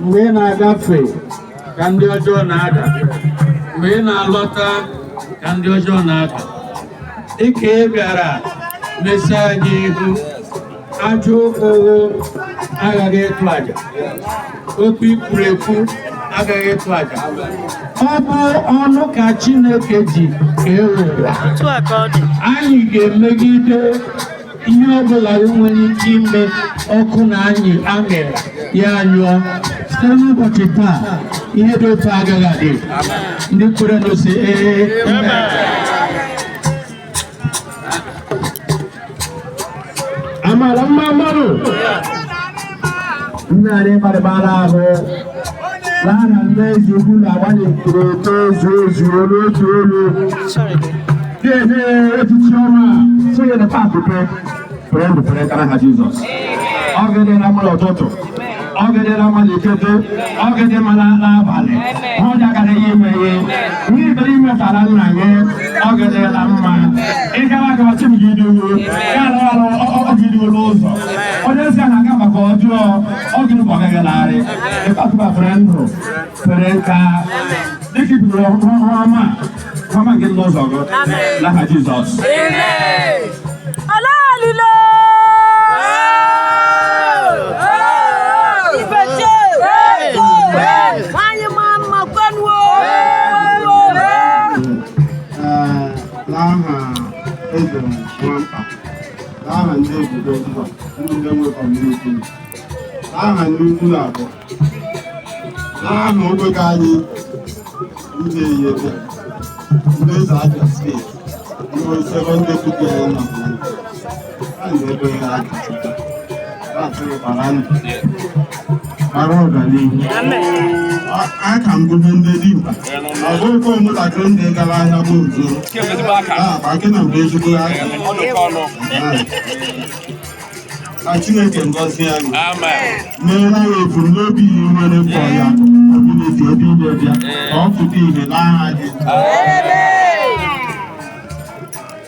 mgbe ị na-agafe ka ndị ọjọọ na-ada mgbe ị na-alọta ka ndị ọjọọ na-ada dịka ị bịara mesi anyị ihu ajọ ọgwụ agaghị ịtụ aja okwu i kwuru ekwu agaghị ịtụ aja ọ bụ ọnụ ka Chineke ji kee ụwa anyị ga-emegide ihe ọ bụla e nwere ike ime ọkụ na anyị amịrị ya anyụọ site n'ụbọchị taa ihe dị otu a agaghị adị ndị kwerenụ sị ee amara mma mmadụ Nnarị gbarịbara ahụ n'aha nne ezi ukwu na agbalị kwuru oke ezu ezu olu otu olu ga-enye echichi ọma sonye na paakị pe pere ndụ pere nka n'aha Jizọs ọ ga-adịrị ya mma l'ụtụtụ ọ ga-adịrị ya mma l'ikete ọ ga-adị mma l'abalị ọ dagara ya ime ihe ihe ibere ime tara nna gị ọ ga-adịrị ya mma ịgara aga ọchị m gị idowo ya na ọrụ ọ gị idowo n'ụzọ onye ezi a na-aga maka ọjọọ ọ gịnị ka ọ gaghị larị ịkpatụba fere ndụ fere nka dịka ibidoro ọhụrụ ọma ọma nke ndị ụzọ gị n'aha Jizọs Ọlọ́ọ̀lùlọ. Ìbẹ̀jẹ̀. Wáyé máa ń mọ gbẹ́nu o. Ee, n'aha eze nwamkpa aha ndị ebubo mba ndị na-enwe kọmuniti aha ndị ukwu na abụọ aha ogbe ka anyị ndị eyebe ndị eze abịa steeti ndị osebe ndị tupu ya na ha na-ebe ha aka mara ọganihu aka ngụgụ ndị dimkpa ọzọ oke ụmụntakịrị ndị gara ahịa bụ ozo akị na mgbe ezigbo aka na chineke ngọzi anyị meere anyị ebumnobi ihe nwere mkpọ ya ọbụneti ebe ime bịa ka ọ pụta ìhè n'aha gị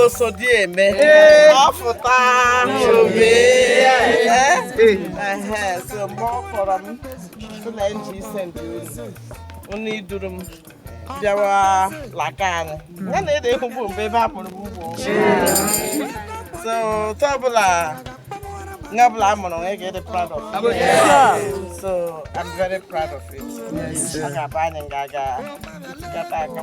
osodieme ọ fụta ìhè so mgbe ọ kpọrọ m sị na nji ise ndị ozi unu iduru m bịawa laka anyị ya na ede ekwugbu mgbe ebe a mụrụ m ugbo so otu ọbụla ebe ọbụla a mụrụ nwa ị ga-adị proud of it. so I'm very proud of it ọ ga-abụ anyị ga-aga tikata aka